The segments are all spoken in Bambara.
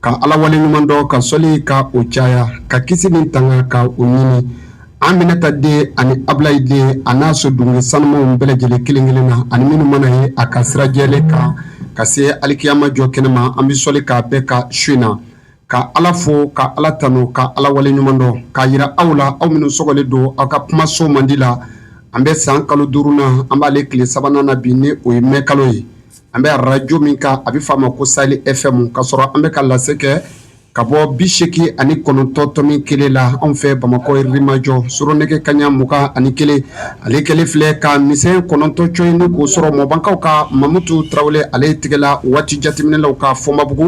Ka ala wale ɲuman dɔn ka sɔli ka o caya ka kisi ni tanga ka o ɲini aminata den ani abulayi den a n'a so dunge sanumanw bɛɛ lajɛlen kelenkelen na ani minnu mana ye a ka sira jɛlen kan ka se alikiyama jɔkɛnɛ ma an bɛ sɔli k'a bɛɛ ka su in na ka ala fo ka ala tanu ka ala wale ɲuman dɔn k'a yira aw la aw minnu sɔgɔlen don aw ka kumaso mandi la an bɛ san kalo duurunan na an b'ale tile sabanan na bi ni o ye mɛ kalo ye an bɛ arajo min kan a bɛ f'a ma ko sahel fm ka sɔrɔ an bɛ ka lase kɛ ka bɔ bi seegin ani kɔnɔntɔn tomi kelen la anw fɛ bamakɔ yirimajɔ su rɔ nɛgɛ kaɲa mugan ani kelen ale kɛlen filɛ ka misɛn kɔnɔntɔn cɔyi ni k'o sɔrɔ mɔbankaw ka mamutu tarawele ale tigɛla waati jateminɛlanw kan fɔnbabugu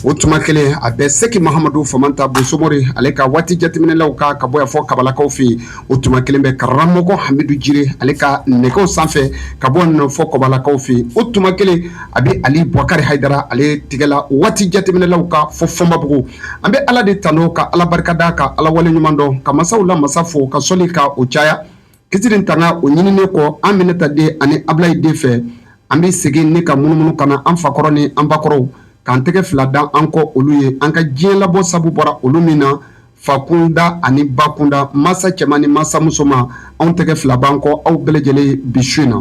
o tuma kelen a bɛ seeki mahamadu famanta bosomori ale ka waati jateminɛlanw kan ka bɔ yan fɔ kabalakaw fɛ yen o tuma kelen bɛ karamɔgɔ hamidu jire ale ka nɛgɛw sanfɛ ka bɔ nin fɔ kɔbalakaw fɛ yen o tuma kelen a bɛ ali bukari hayidara ale tigɛla waati jateminɛlanw kan fɔ fɔnbabugu an bɛ ala de tanu ka ala barika da ka ala wale ɲuman dɔn ka masaw la masa fo ka sɔli ka o caya kisi ni tanga o ɲininen kɔ aminata den ani abulayi den fɛ an bɛ segin ni ka munumunu ka na an fakɔrɔw ni an bakɔrɔw k'an tɛgɛ fila da an kɔ olu ye an ka diɲɛ labɔ sabu bɔra olu min na fa kunda ani ba kunda masa cɛman ni masa musoman anw tɛgɛ fila b'an kɔ aw bɛɛ lajɛlen bi su in na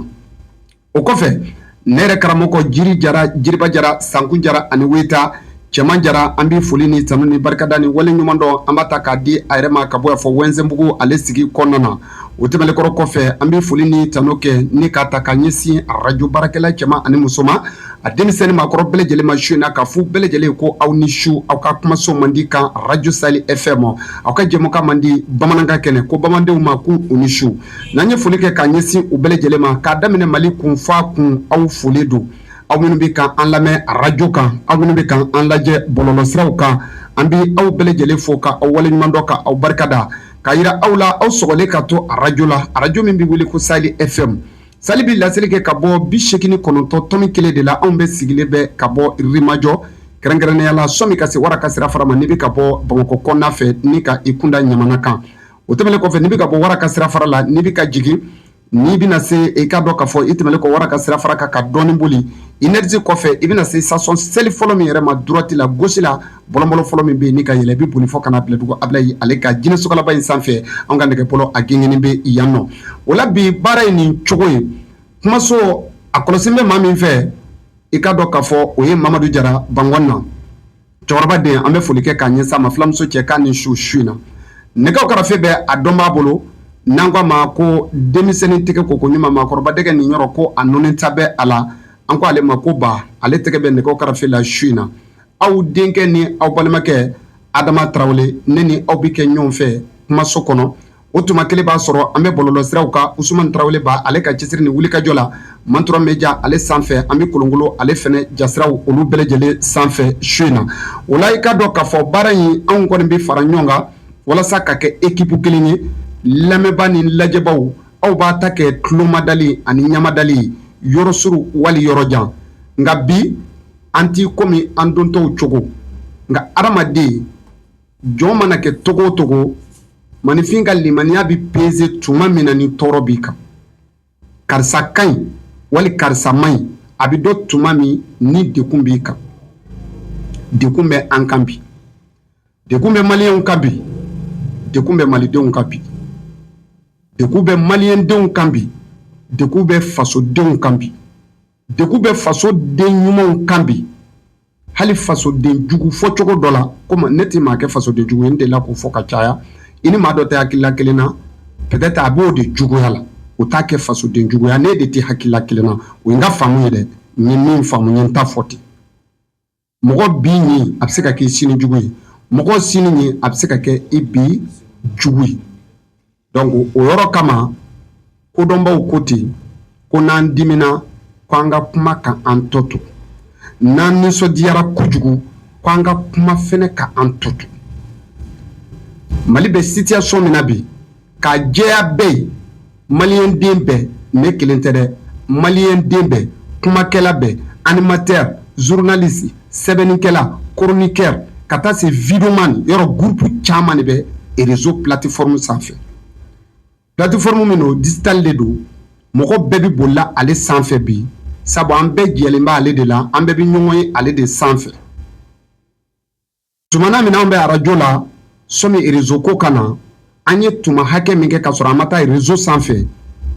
o kɔfɛ ne yɛrɛ karamɔgɔ jiri jara jiriba jara sankun jara ani weta cɛman jara an bɛ foli ni tanu ni barikada ni waleɲumandɔn an b'a ta k'a di a yɛrɛ ma ka bɔ yan fɔ wɛnsɛnbugu ale sigi kɔnɔna na o tɛmɛnen kɔrɔ kɔfɛ an bɛ foli ni tanu kɛ ni k'a ta ka ɲɛsin arajo baarakɛla cɛman ani musoman a denmisɛn ni maakɔrɔ bɛɛ lajɛlen ma su in na ka fɔ u bɛɛ lajɛlen ko aw ni su aw ka kumaso mandi kan arajo sahel fm aw ka jɛmukan mandi bamanankan kɛnɛ ko bamanandenw ma k'u ni su n'an ye foli kɛ ka ɲɛsin u bɛɛ lajɛlen ma k'a daminɛ mali kun f'a kun aw foli don aw minnu bɛ kan an lamɛn arajo kan aw minnu bɛ kan an lajɛ bɔlɔlɔsiraw kan an bɛ aw bɛɛ lajɛlen fo ka aw waleɲuman dɔn ka aw barikada k'a yira aw la aw sɔgɔlen ka to arajo la arajo min bɛ wele ko sahel fm sahel bɛ laseli kɛ ka bɔ bi seegin ni kɔnɔntɔn tomi kelen de la anw bɛ sigilen bɛ ka bɔ yirimajɔ kɛrɛnkɛrɛnnenya la sɔni i ka se wara ka sira fara ma n'i bɛ ka bɔ bamakɔ kɔnɔna fɛ ni ka i kun da ɲamana kan o tɛmɛnen kɔfɛ n'i bɛ ka bɔ wara ka sira fara la n'i bɛ ka jigin N'i bɛna se i ka dɔn k'a fɔ i tɛmɛnen kɔ wara ka sira fara kan ka dɔɔnin boli énergie kɔfɛ i bɛna se station shell fɔlɔ min yɛrɛ ma droite la gauche la bɔlɔn bɔlɔn fɔlɔ min bɛ yen ni ka yɛlɛn i bɛ boli fɔ ka na bila dugu abulayi ale ka jinɛ sokalaba in sanfɛ an ka nɛgɛbɔlɔ a gengennen bɛ yan nɔ o la bi baara ye nin cogo ye kumaso a kɔlɔsi bɛ maa min fɛ i ka dɔn k'a fɔ o ye mamadu jara bangɔn na cɛkɔrɔba den an bɛ foli kɛ k'a ɲɛsin a ma filamuso cɛ k'a ni su su in na nɛgɛw karafe bɛ a dɔnbaa bolo n'an ko a ma ko denmisɛnnin tɛgɛ ko koɲuman maakɔrɔba dɛgɛ nin yɔrɔ ko a nɔɔni ta bɛ a la an ko ale ma ko ba ale tɛgɛ bɛ nɛgɛw karafe la su in na aw denkɛ ni aw balimakɛ adama tarawele ne ni aw bɛ kɛ ɲɔgɔn fɛ kumaso kɔnɔ O tuma kelen b'a sɔrɔ an bɛ bɔlɔlɔsiraw ka usman tarawele ba ale ka cɛsiri ni wulikajɔ la Mantura Media ale sanfɛ an bɛ kolonkolon ale fɛnɛ jasiraw olu bɛɛ lajɛlen sanfɛ su in na o la i ka dɔn k'a fɔ baara in anw kɔni bɛ fara ɲɔgɔn kan walasa ka kɛ ekip kelen ye lamɛnbaa ni lajɛbaw aw b'a ta kɛ tulomadali ani ɲamadali ye yɔrɔ suru wali yɔrɔ jan nka bi an t' kɔmi an dontɔw cogo nka adamaden jɔn mana kɛ cogo o cogo maaninfin ka limaniya bɛ peze tuma min na ni tɔɔrɔ b'i kan karisa ka ɲi wali karisa man ɲi a bɛ dɔn tuma min ni dekun b'i kan dekun bɛ an kan bi dekun bɛ maliyɛnw kan bi dekun bɛ malidenw kan bi dekun bɛ maliyɛndenw kan bi dekun bɛ fasodenw kan bi dekun bɛ faso den ɲumanw kan bi hali fasodenjugu fɔ cogo dɔ la kɔmi ne tɛ maa kɛ fasodenjugu ye n delila k'o fɔ ka caya i ni maa dɔ tɛ hakilila kelen na peut-être a b'o de juguya la o t'a kɛ fasodenjuguya ne de tɛ hakilila kelen na o ye n ka faamu ye dɛ n ye min faamu n ye n ta fɔ ten mɔgɔ bi ɲi a bɛ se ka kɛ sini jugu ye mɔgɔ sini ɲi a bɛ se ka kɛ i bi jugu ye donc o yɔrɔ kama kodɔnbaw ko ten ko n'an dimina ko an ka kuma ka an tɔ to n'an nisɔndiyara kojugu ko an ka kuma fɛnɛ ka an tɔ to mali bɛ situation min na bi k'a jɛya bɛɛ ye maliyɛnden bɛɛ ne kelen tɛ dɛ maliyɛnden bɛɛ kumakɛla bɛɛ animateur journaliste sɛbɛnnikɛla chroniqueur ka taa se videoman yɔrɔ groupe caman de bɛ réseau plateforme sanfɛ plateforme min o digital de don mɔgɔ bɛɛ bɛ bolila ale sanfɛ bi sabu an bɛɛ jɛlen bɛ ale de la an bɛɛ bɛ ɲɔgɔn ye ale de sanfɛ Tumana min an bɛ arajo la sɔmi réseau ko ka na an ye tuma hakɛ min kɛ ka sɔrɔ an ma taa réseau sanfɛ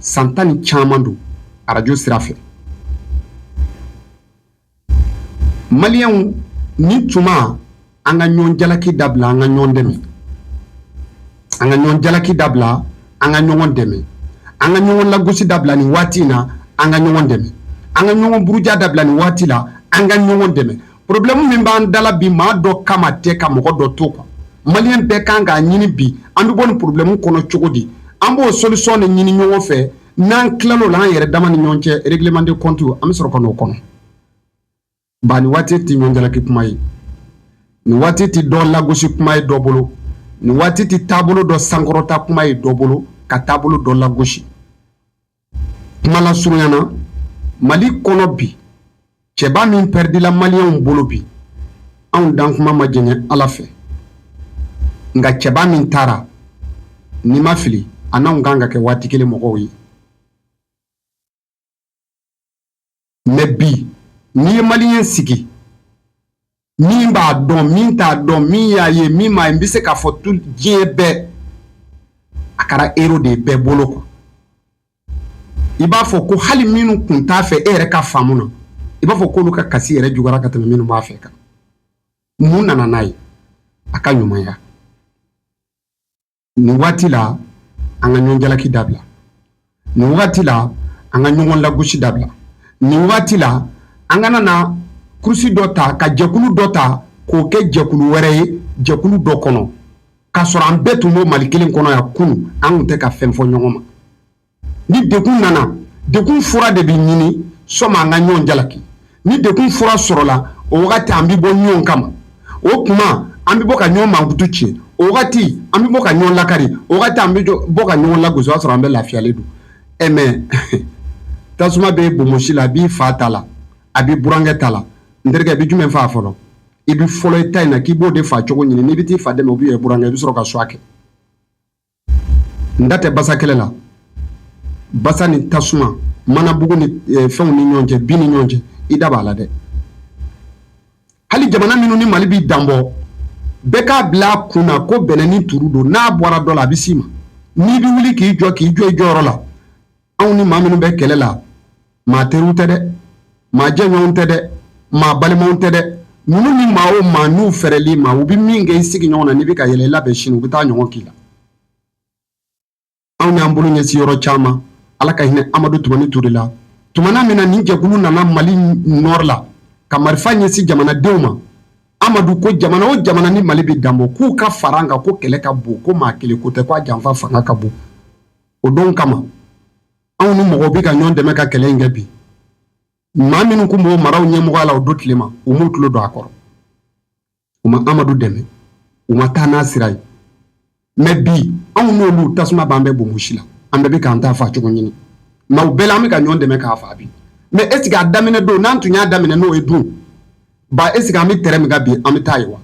san tan ni caman don arajo sira fɛ maliyɛnw nin tuma an ka ɲɔgɔn jalaki dabila an ka ɲɔgɔn dɛmɛ an ka ɲɔgɔn jalaki dabila an ka ɲɔgɔn dɛmɛ an ka ɲɔgɔn lagosi dabila nin waati in na an ka ɲɔgɔn dɛmɛ an ka ɲɔgɔn buruja dabila nin waati la an ka ɲɔgɔn dɛmɛ porobilɛmu min b'an da la bi maa dɔ kama tɛ ka mɔgɔ dɔ to kan maliyɛn bɛɛ kan k'a ɲini bi an bɛ bɔ nin porobilɛmu kɔnɔ cogo di an b'o solisɔn de ɲini ɲɔgɔn fɛ n'an tilal'o la an yɛrɛ dama ni ɲɔgɔn cɛ règlement de compte an bɛ sɔrɔ ka n'o kɔnɔ ba nin waati tɛ ɲɔgɔn jalaki kuma ye nin waati tɛ dɔ lagosi kuma ye dɔ bolo nin waati tɛ taabolo dɔ sankɔrɔta kuma ye dɔ bolo ka taabolo dɔ lagosi Kuma lasurunya na Mali kɔnɔ bi cɛba min pɛrɛdila maliyɛnw bolo bi anw dankuma ma janya Ala fɛ nka cɛba min taara n'i ma fili a n'anw ka kan ka kɛ waati kelen mɔgɔw ye. mɛ bi n'i ye maliyɛn sigi min b'a dɔn min t'a dɔn min y'a ye min m'a ye n bɛ se k'a fɔ tu diɲɛ bɛɛ a kɛra ero de ye bɛɛ bolo kɔ i b'a fɔ ko hali minnu kun t'a fɛ e yɛrɛ ka faamu na i b'a fɔ k'olu ka kasi yɛrɛ juguyara ka tɛmɛ minnu b'a fɛ kan mun nana n'a ye a ka ɲumanya nin waati la an ka ɲɔgɔn jalaki dabila nin waati la an ka ɲɔgɔn lagosi dabila nin waati la an kana na kurusi dɔ ta ka jɛkulu dɔ ta k'o kɛ jɛkulu wɛrɛ ye jɛkulu dɔ kɔnɔ k'a sɔrɔ an bɛɛ tun b'o mali kelen kɔnɔ yan kunun an tun tɛ ka fɛn fɔ ɲɔgɔn ma ni degun nana degun fura de bɛ ɲini sani an ka ɲɔgɔn jalaki ni degun fura sɔrɔla o wagati an bɛ bɔ ɲɔgɔn kama o tuma an bɛ bɔ ka ɲɔgɔn mankutu tiɲɛ o wagati an bɛ bɔ ka ɲɔgɔn lakari o wagati an bɛ bɔ ka ɲɔgɔn lagosi o y'a sɔrɔ an bɛɛ lafiyalen don e mɛ tasuma bɛ bonbonsi la a b'i fa ta la a b'i burankɛ ta la n terikɛ i bɛ jumɛn faa fɔlɔ i bɛ fɔlɔ i ta in na k'i b'o de faa cogo ɲini n'i bɛ t'i fa dɛmɛ ou bien i burankɛ i bɛ sɔrɔ ka choix kɛ n da tɛ basa kɛlɛ la basa ni tasuma manabugu ni eh, fɛnw ni ɲɔgɔn cɛ bin ni ɲɔgɔn cɛ i da b'a la dɛ hali jamana minnu ni mali bɛ danbɔ bɛɛ k'a bila a kun na ko bɛnɛ ni turu don n'a bɔra dɔ la a bɛ s'i ma n'i bɛ wuli k'i jɔ k'i jɔ i jɔyɔrɔ la anw ni maa minnu bɛ kɛlɛ la maa teriw tɛ dɛ maa jɛɲɔgɔnw tɛ dɛ maa balimaw tɛ dɛ ninnu ni maa o maa n'u fɛrɛl'i ma u bɛ min kɛ i sigiɲɔgɔn na n'i bɛ ka yɛlɛ i labɛn sini u bɛ t'a ɲɔgɔn k'i la anw y'an bolo ɲɛsin yɔrɔ caman ala ka hinɛ amadu tumani ture la tuma min na nin jɛkulu nana mali nɔri la ka marifa ɲɛsin jamanadenw ma amadu ko jamana o jamana ni mali bɛ danbɔ k'u ka fara an kan ko kɛlɛ ka bon ko maa kelen ko tɛ k'a janfa fanga ka bon o don kama anw ni mɔgɔw bɛ ka ɲɔgɔn dɛmɛ ka kɛlɛ in kɛ bi maa minnu tun b'o maraw ɲɛmɔgɔya la o don tile ma u m'u tulo don a kɔrɔ u ma amadu dɛmɛ u ma taa n'a sira ye mɛ bi anw n'olu tasuma b'an bɛɛ bonbonsi la an bɛɛ bɛ k'an ta fa cogo ɲini mɛ u bɛɛ la an bɛ ka ɲɔgɔn dɛmɛ k'a fa bi mɛ eseke a daminɛ don n'an tun y'a daminɛ n'o ye dun ba eseke an bɛ tɛrɛn min kan bi an bɛ taa yen wa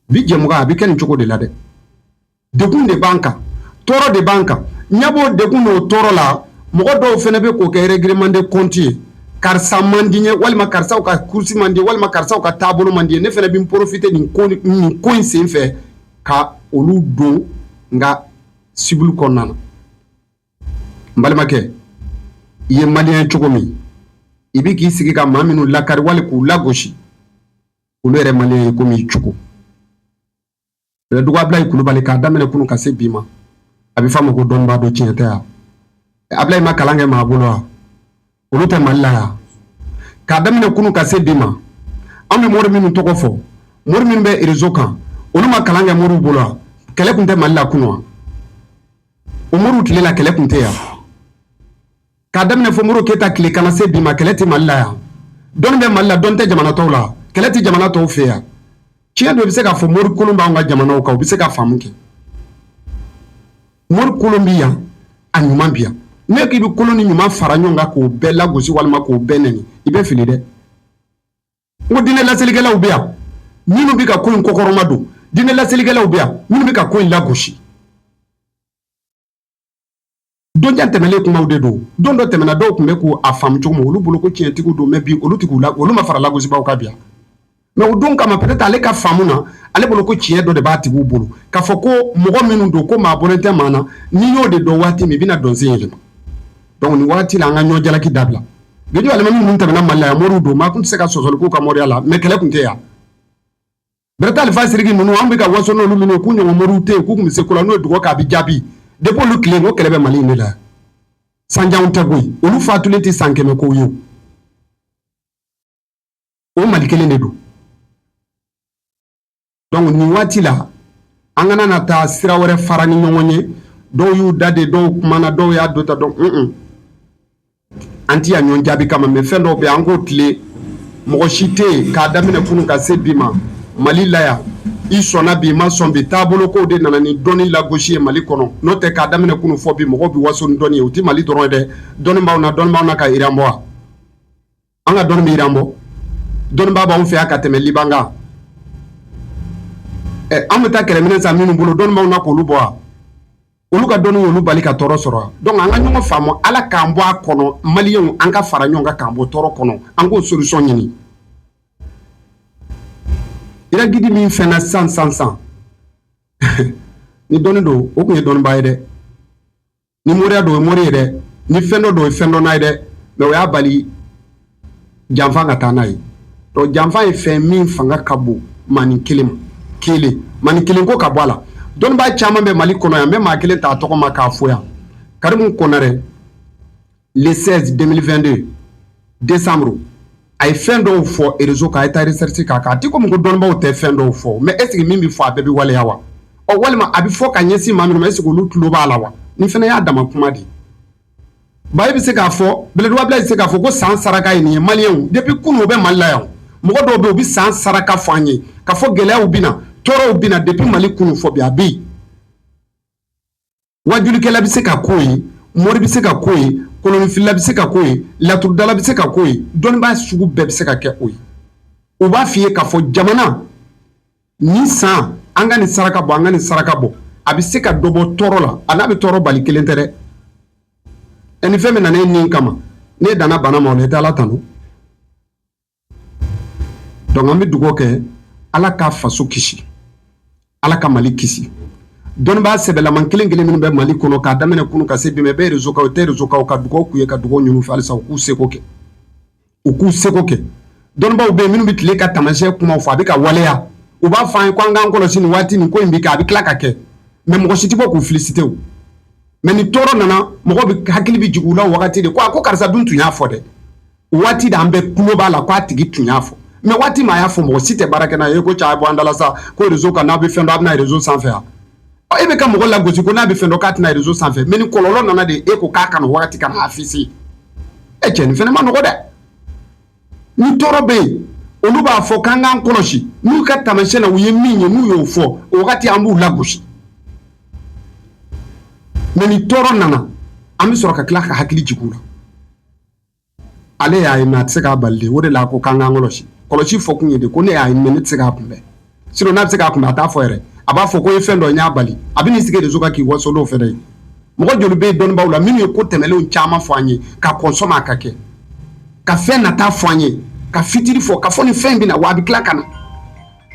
bi jɛmukan a bɛ kɛ nin cogo de la dɛ degun de b'an kan tɔɔrɔ de b'an kan ɲɛ b'o degun n'o tɔɔrɔ la mɔgɔ dɔw fana bɛ k'o kɛ règlement de compte ye karisa man di n ye walima karisaw ka kurusi man di n ye walima karisaw ka taabolo man di n ye ne fana bɛ n porofite nin ko in sen fɛ ka olu don n ka cible kɔnɔna na n balimakɛ i ye maliyɛn cogo min i bɛ k'i sigi ka maa minnu lakari wali k'u lagosi olu yɛrɛ maliyɛn ye komi i cogo Abudulayi kulubali k'a daminɛ kunun ka se bi ma a bɛ fɔ a ma ko dɔnnibaa don tiɲɛ tɛ yan abudulayi ma kalan kɛ maa bolo wa olu tɛ mali la yan k'a daminɛ kunun ka se bi ma an bɛ mori minnu tɔgɔ fɔ mori minnu bɛ rezo kan olu ma kalan kɛ moriw bolo wa kɛlɛ tun tɛ mali la kunun wa o moriw tile la kɛlɛ tun tɛ yan k'a daminɛ fɔ modibo keyita tile ka na se bi ma kɛlɛ tɛ mali la yan dɔnni bɛ mali la dɔnni tɛ jamana tɔw la kɛlɛ tɛ jamana tɔw fɛ yan tiɲɛ dɔ bɛ se k'a fɔ mori kolon b'an ka jamanaw kan u bɛ se ka faamu kɛ mori kolon bɛ yan a ɲuman bɛ yan n'i k'i bɛ kolon ni ɲuman fara ɲɔgɔn kan k'o bɛɛ lagosi walima k'o bɛɛ nɛni i bɛ fili dɛ n ko diinɛ laselikɛlaw bɛ yan minnu bɛ ka ko in kɔkɔrɔmadon diinɛ laselikɛlaw bɛ yan minnu bɛ ka ko in lagosi donjan tɛmɛlen kumaw de don don dɔ tɛmɛna dɔw tun bɛ k'a faamu cogo min olu bolo ko tiɲɛtigiw don mɛ bi olu tɛ ko la olu ma fara lagosibaaw kan bi yan mɛ o don kama peut-être ale ka faamu na ale bolo ko tiɲɛ dɔ de b'a tigiw bolo k'a fɔ ko mɔgɔ minnu don ko maa bɔlen tɛ maa na n'i y'o de dɔn waati min i bɛna dɔnsen yɛlɛma donc nin waati la an ka ɲɔ jalaki dabila radio alimami ninnu tɛmɛna mali la yan moriw don maa tun tɛ se ka sɔsɔli k'u ka moriya la mɛ kɛlɛ tun tɛ yan Bereta Alifa Sidiki ninnu an bɛ ka waso n'olu minnu ye k'u ɲɔgɔn moriw tɛ yen k'u tun bɛ se ko la n'o ye dugawu kɛ a bɛ jaabi depuis olu tile ko kɛlɛ bɛ Mali in de la sanjanw tɛ koyi olu fatulen tɛ san kɛmɛ kow ye o Mali kelen de don donc nin waati la an kana na taa sira wɛrɛ fara ni ɲɔgɔn ye dɔw y'u da de dɔw kumana dɔw y'a dota dɔn un un an tɛ yan ɲɔgɔn jaabi kama mɛ fɛn dɔw bɛ an k'o tilen mɔgɔ si tɛ yen k'a daminɛ kunun ka se bi ma mali la yan i sɔnna bi i ma sɔn bi taabolo kow de nana ni dɔnni lagosi ye mali kɔnɔ n'o tɛ k'a daminɛ kunun fɔ bi mɔgɔw bɛ waso ni dɔnni ye o tɛ mali dɔrɔn ye dɛ dɔnni b'aw na dɔnni b'aw na ka iran bɔ wa an ka dɔnni bɛ iran bɔ dɔnnibaa b'anw fɛ yan ka tɛmɛ liban kan ɛ an bɛ taa kɛlɛminɛn san minnu bolo dɔnnibaw na k'olu bɔ wa olu ka dɔnni y'olu bali ka tɔɔrɔ sɔrɔ wa donc an ka ɲɔgɔn faamu ala k'an bɔ a kɔnɔ maliyɛnw an ka fara ɲɔgɔn kan k'an bɔ tɔɔrɔ kɔnɔ an k'o solution ɲini iran guide min fɛnna san san san ni dɔnni don o tun ye dɔnnibaa ye dɛ ni moriya don o ye mori ye dɛ ni fɛn dɔ don o ye fɛn dɔ n'a ye dɛ mais o y'a bali janfa ka taa n'a ye donc janfa ye fɛn min fanga ka bon manin kelen maa kelen manin kelen ko ka bɔ a la dɔnnibaa caman bɛ mali kɔnɔ yan n bɛ maa kelen t'a tɔgɔ ma k'a fo yan karimu konarɛ le 16 2022 décembre a ye fɛn dɔw fɔ réseau kan a ye taa recherche k'a kan a tɛ komi ko dɔnnibaw tɛ fɛn dɔw fɔ mais est ce que min bɛ fɔ a bɛɛ bɛ waleya wa ɔ walima a bɛ fɔ ka ɲɛsin maa minnu ma est ce que olu tulo b'a la wa nin fana y'a dama kuma de ye bayi bɛ se k'a fɔ bɛlɛdugu abulayi bɛ se k'a fɔ ko san saraka ye nin ye maliyɛnw depuis kunu o bɛ mali la yan mɔgɔ dɔw bɛ yen u bɛ san saraka fɔ an ye k'a fɔ gɛlɛyaw bɛ na tɔɔrɔw bɛ na depuis mali kunu fo bi a bɛ yen wajulikɛla bɛ se ka ko ye mori bɛ se ka ko ye kolonfilila bɛ se ka ko ye laturudala bɛ se ka ko ye dɔnnibaa sugu bɛɛ bɛ se ka kɛ o ye u b'a f'i ye k'a fɔ jamana nin san an ka nin saraka bɔ an ka nin saraka bɔ a bɛ se ka dɔ bɔ tɔɔrɔ la a n'a bɛ tɔɔrɔ bali kelen tɛ dɛ ɛ ni fɛn min nana e nin kama ne danana bana ma ne taa ala tanu donc an bɛ dugaw kɛ ala ka faso kisi ala ka mali kisi dɔnnibaa sɛbɛlaman kelen kelen minnu bɛ mali kɔnɔ k'a daminɛ kunu ka se bi ma bɛ réseau kan o tɛ réseau kan o ka dugawu k'u ye ka dugawu ɲini u fɛ halisa u k'u seko kɛ u k'u seko kɛ dɔnnibaw bɛ yen minnu bɛ tile ka taamasiyɛn kuma fɔ a bɛ ka waleya u b'a fɔ an ye ko an k'an kɔlɔsi nin waati nin ko in bi kɛ a bɛ tila ka kɛ mais mɔgɔ si tɛ bɔ k'u féliciter mais ni tɔɔrɔ nana mɔgɔ bɛɛ hakili bɛ jigin u la o wagati de ko a ko karisa dun tun y'a fɔ dɛ waati de an bɛɛ tulo b'a la k'a tigi tun y'a fɔ mais waati min a y'a fɔ mɔgɔ si tɛ baara kɛ n'a ye ko cɛ a bɔ an da la sa ko réseau kan n'a bɛ fɛn dɔn a bɛ na réseau sanfɛ yan e bɛ ka mɔgɔ lagosi ko n'a bɛ fɛn dɔn k'a tɛ na réseau sanfɛ mais ni kɔlɔlɔ nana de e ko k'a ka na waati ka n'a afficher e cɛ nin fana ma nɔgɔ dɛ ni tɔɔrɔ bɛ yen olu b'a fɔ k'an k'an kɔlɔsi n'u ka taamasiyɛn na u ye min ye n'u y'o fɔ o wagati an b'u lagosi mais ni tɔɔrɔ nana an bɛ sɔrɔ ka tila ka hakili jigin u la ale y'a ye mais a tɛ se k'a bali dɛ o de la ko k'an k'an kɔlɔsi kɔlɔsi fɔ kun ye de ko ne y'a ye mais ne tɛ se k'a kunbɛn sinon n'a bɛ se k'a kunbɛn a t'a fɔ yɛrɛ a b'a fɔ ko ye fɛn dɔ n y'a bali a bɛ n'i sigi réseau kan k'i waso n'o fɛnɛ ye mɔgɔ joli bɛ yen dɔnnibaw la minnu ye ko tɛmɛnlenw caman fɔ an ye ka kɔn sani a ka kɛ ka fɛn nata fɔ an ye ka futur fɔ k'a fɔ nin fɛn bɛna na wa a bɛ tila ka na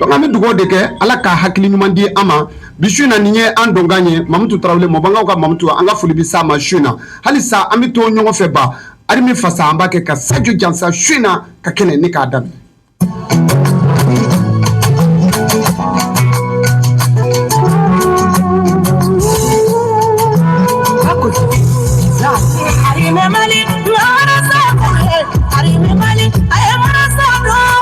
Donc an bɛ dugawu de kɛ Ala ka hakili ɲuman di an ma bi su in na nin ye an donkan ye Mamutu Tarawele Mɔɔbankaw ka Mamutu an ka foli bɛ s'a ma su in na halisa an bɛ to ɲɔgɔn fɛ ba Arimi fasa an b'a kɛ ka Sajo jansa su in na ka kɛnɛ nin k'a daminɛ.